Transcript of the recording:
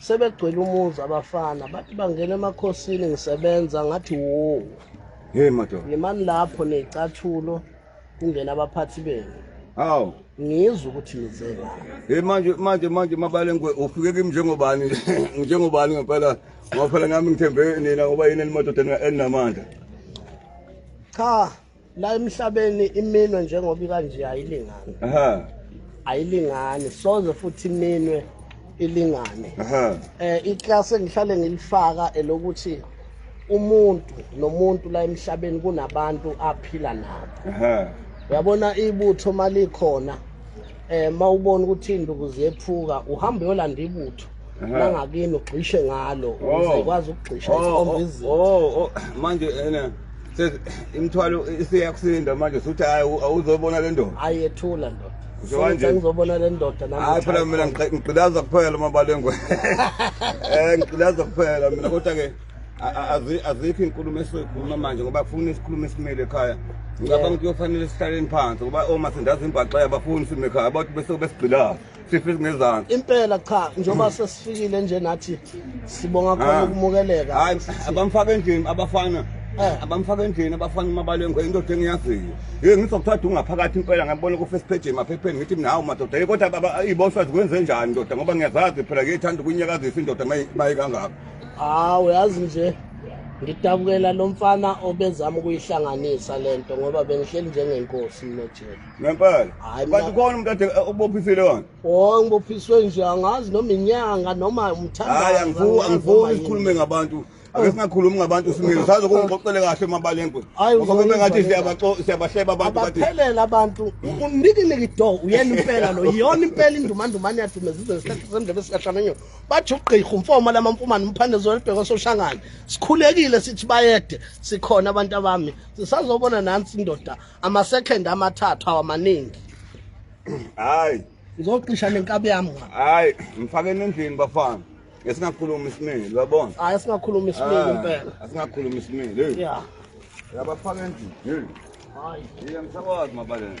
sebegcwele umuzi abafana bathi bangena emakhosini ngisebenza ngathi wo hey madoda yimani lapho necathulo kungena abaphathi benu hawu ngizwe ukuthi nize hey manje manje manje mabale ngwe ufike kimi njengobani njengobani ngempela ngoba phela ngami ngithembe nina ngoba yini enimododa eninamandla cha la emhlabeni iminwe njengoba ikanje ayilingani aha ayilingani soze futhi iminwe ilingane aha eh iclass engihlale ngilifaka elokuthi umuntu nomuntu la emhlabeni kunabantu aphila nabo aha uyabona ibutho malikhona um ma ubona ukuthi iy'nduku ziyephuka uhambe uyolanda ibutho nangakini ugxishe ngalo oh. ukuze ikwazi ukugxisha oh, isikhomba oh, izinto manje ena imithwalo isiyakusinda manje suthi hayi awuzobona le ndoda hayi yethula ndoda ngizobona le ndoda hayi phela mina ngigqilaza kuphela uma balengwe um ngigqilaza kuphela mina kodwa-ke azikho iy'nkulumo esizoyikhuluma manje ngoba kufuna isikhulumo esimile ekhaya ngicabanga ukuthi kuyofanele sihlaleni phansi ngoba oma sindazi imbaxa yabafuni sime ekhaya abantu bese besigqilayo sife singezansi impela cha njengoba sesifikile nje nathi sibonga khona ah. ukumukeleka hayi abamfaka endlini abafana eh. abamfaka endlini abafana umabalengwe indoda engiyaziyo ye ngizokuthatha ungaphakathi impela ngabona ku-first page emaphepheni ngithi mina hawu madoda ye kodwa iy'boshwa zikwenze njani ndoda ngoba ngiyazazi phela ngiyithanda ukunyakazisa indoda mayikangako hawu yazi nje ngidabukela lo mfana obezama ukuyihlanganisa le nto ngoba bengihleli njengenkosi mnojela ngempela kanti khona umuntu ade ubophisile wona o ngibophiswe nje angazi noma inyanga noma umthandahayi angifuni isikhulume ngabantu ake singakhulumi ngabantu simile saze kungixoxele kahle emabalengwe ngoba kube ngathi siyabahleba abantu baphelele abantu unikiniki do uyena impela lo yiyona impela indumandumane yathumezizwe ngesikhathi semndebe sikahlamenyona bathi ugqirha umfoma lamamfumane umphande zolibheka ososhangane sikhulekile sithi bayede sikhona abantu abami sisazobona nansi indoda ama-second amathathu awamaningi hayi ngizoqisha nenkabi yami hayi ngifakeni endlini bafana esingakhuluma isimile uyabona hayi esingakhuluma isimile ah, impela asingakhuluma isimile ya yabafaka endlini hayi ngisakwazi mabaleni